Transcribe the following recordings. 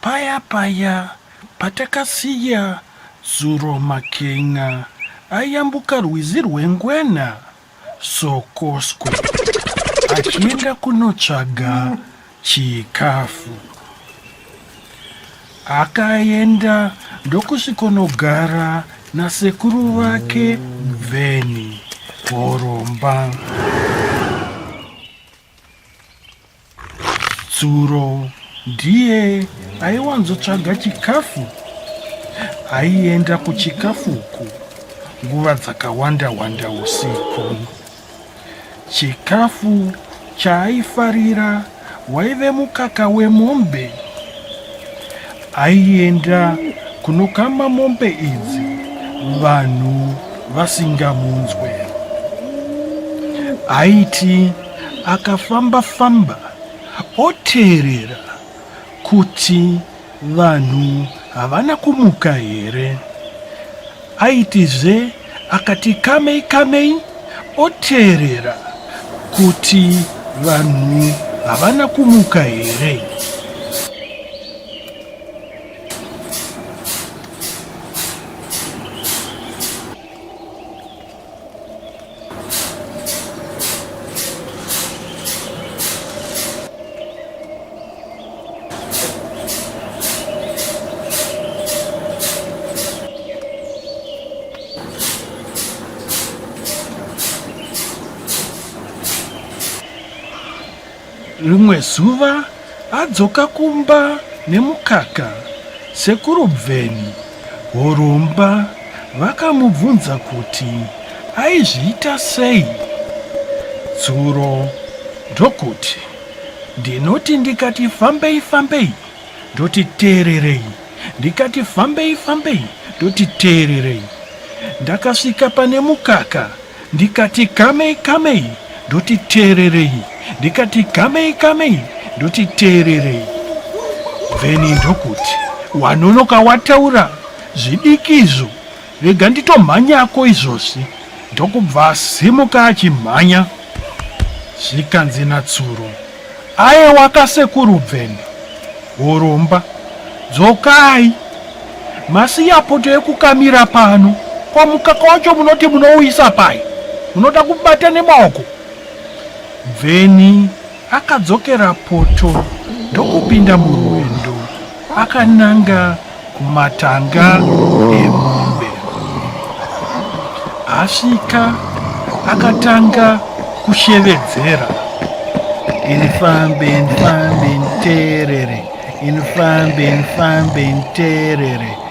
Paya paya patakasiya zuro Makenya ayambuka rwizi rweNgwena, Sokoswe, achienda kunotsvaga chikafu. Akaenda ndokusvikonogara nasekuru vake Bveni Horomba. Tsuro ndiye aiwanzotsvaga chikafu aienda kuchikafu uku nguva dzakawanda wanda usiku chikafu chaaifarira waive mukaka wemombe Aienda kunokama mombe idzi vanhu vasingamunzwe. Aiti akafamba famba oteerera kuti vanhu havana kumuka here. Aitizve Akati kamei kamei oteerera kuti vanhu havana kumuka here. rimwe zuva adzoka kumba nemukaka sekuru bveni horomba vakamubvunza kuti aizviita sei dzuro ndokuti Ndinoti ndikati fambei fambei ndoti teererei ndikati fambei fambei ndoti teererei ndakasvika pane mukaka ndikati kamei kamei ndoti teererei ndikati kamei kamei ndoti teererei vheni ndokuti wanonoka wataura zvidiki izvo Rega nditomhanyako izvozvi. Ndokubva asimuka achimhanya. Zvikanzi natsuro. Ayewa kasekuru bveni. Hurumba. Dzokai. Masiya poto yekukamira pano. Kwa mukaka wacho munoti munouyisa pai? Munoda kubata nemaoko? Bveni Akadzokera poto ndokupinda murwendo akananga kumatanga emombe. Asvika akatanga kushevedzera inifambe nifambe nterere inifambe nifambe nterere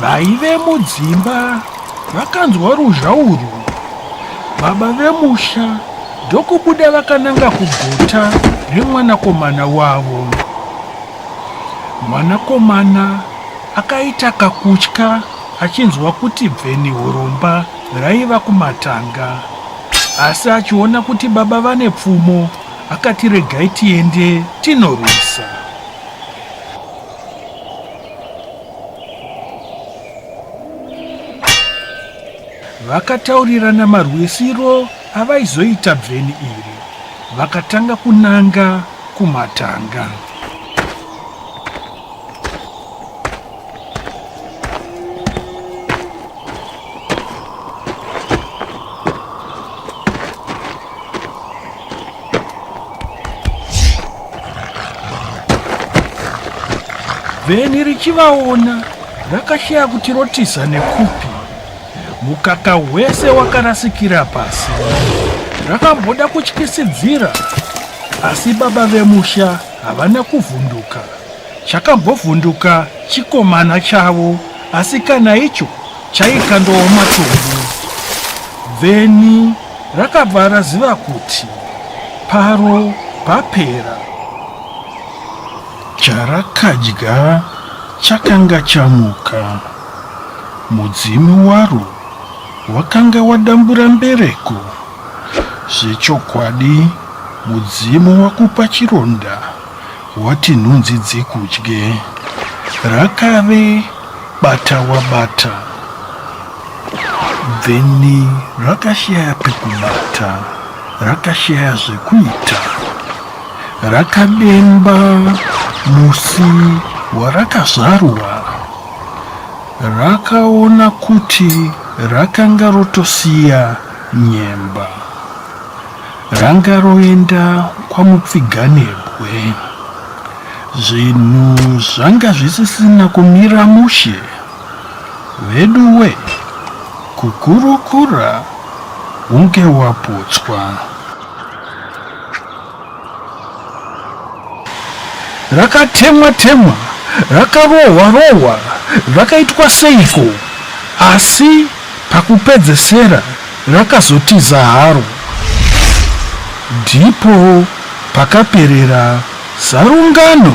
vaive mudzimba vakanzwa ruzha urwu baba vemusha ndokubuda vakananga kugota remwanakomana wavo mwanakomana akaita kakutya achinzwa kuti bveni huromba raiva kumatanga asi achiona kuti baba vane pfumo Akati regai tiende tinorwisa. Vakataurirana marwisiro avaizoita bveni iri. Vakatanga kunanga kumatanga. vheni richivaona rakashaya kuti rotiza nekupi mukaka wese wakarasikira pasi rakamboda kutyisidzira asi baba vemusha havana kuvhunduka chakambovhunduka chikomana chavo asi kana icho chaikandooma chombo then rakabva raziva kuti paro papera charakadya chakanga chamuka mudzimu waro wakanga wadambura mbereko zvechokwadi mudzimu wakupa chironda Wati nhunzi dzikudye. Rakave bata wabata then rakashaya pekubata rakashaya zvekuita. Rakademba musi warakazvarwa rakaona kuti rakanga rotosiya nyemba. Ranga roenda kwaMupfiganebwe. Zvinhu zvanga zvisisina kumira mushe. Veduwe, kukurukura hunge waputswa. rakatemwa temwa rakarohwa rohwa rakaitwa seiko asi pakupedzesera rakazotiza haro ndipo pakaperera zarungano